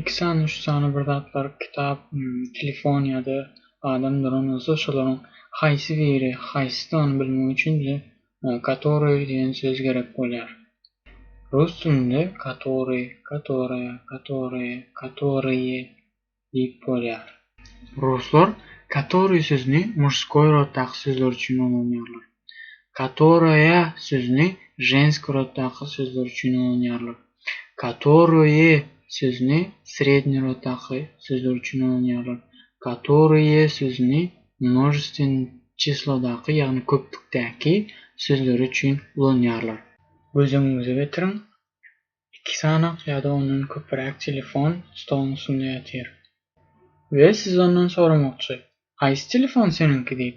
Iki sany üç sany bir zatlar kitap telefon ýada adam duran bolsa şolaryň haýsy biri haýsydygyny bilmek üçin bize katoryý diýen söz gerek bolýar. Rus dilinde katoryý katoraya katoryýe katoryýe diýip bolýar. Ruslar katoryý sözüni muşskoý roddaky sözler üçin ulanýarlar. Katoraýa sözüni ženski roddaky sözler üçin ulanýarlar. Katoraýe sözüni sredni roddaky sözler üçin ulanýarlar. Katoraýe sözüni množestwen çislodaky, ýagny köplükdäki sözleri üçin ulanýarlar. Göz öňüňize getiriň, iki sanak ýa-da ondan köpräk telefon stoluň üstünde ýatyr. We siz ondan soramakçy, Haýsy telefon seniňki diýip.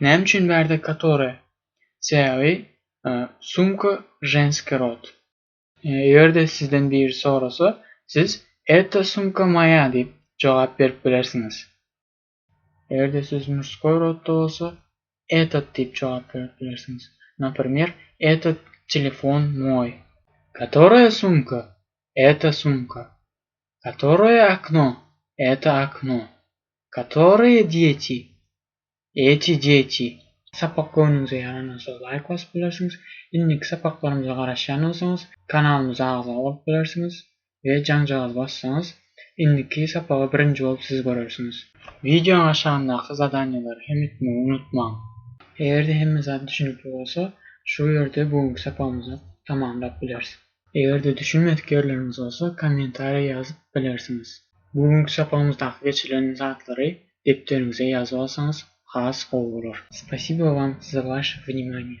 Näme üçin bärde katore? Sebäbi sumka ženskiý rod. Eger-de sizden biri sorasa, siz Eta sumka moýa diýip jogap berip bilersiňiz. Eger-de söz murskoý rodda bolsa, Etat diýip jogap berip bilersiňiz. Napremýer, Etat telefon moý. Katoraýa sumka? Eta sumka. Katoraýa okno? Eta okno. Katoraýa dýeti? Eeti jeeti. Sapak göwnüňize ýaranansoň laýk basyp bilersiňiz. Indiki sapaklarymyza garaşýan bolsaňyz kanalymyza agza bolup bilersiňiz we jaňjagazy bassaňyz indiki sapagy birinji bolup siz görersiňiz. Wideoň aşagyndaky zadaniýalary hem etmegi unutmaň. Egerde hemme zat düşünikli bolsa şu ýerde bu günki sapagymyzy tamamlap bileris. Eger-de düşünmedik ýerleriňiz bolsa kommentariýa ýazyp bilersiňiz. Bu günki çapygymyzdaky geçirilen zatlary depderiňize ýazyp alsaňyz has gowy bolar. Spasibo Wam za Waše Vnimaniye.